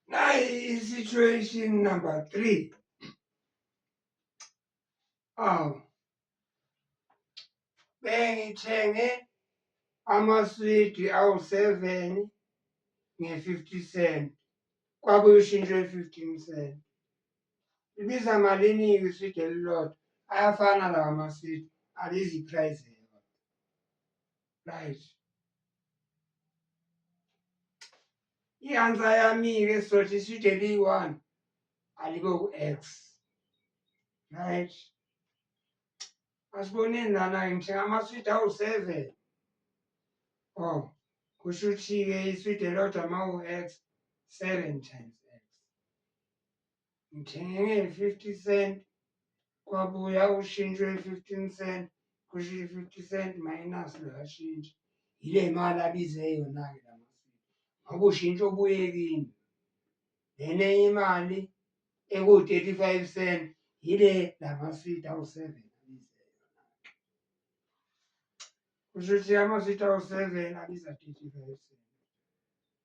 Now is situation number three. Um, bengithenge amaswidi awu-seven nge-fifty cent kwabuye ushintsho i-fifteen cent ibiza malini-ke iswidi elilodwa ayafana lawa maswidi alizi iprice right i-answer yami-ke sizothi iside liyi-one alikho ku-x right asiboneni lana-ke ngisho ngamaswidi awu-seven o oh, kusho ukuthi-ke iswidi elodwa ma u-x seven times ngithenge nge-fifty cent kwabuya ushintsho ye-fifteen cent kusho i-fifty cent minus luyashintsha yile mali abize yona-ke la masiko ngoba ushintsho obuyekini lena enye imali eku-thirty five cent yile la masidi awu-seven abize yona kusho ukuthi amasidi awu-seven abiza thirty five cent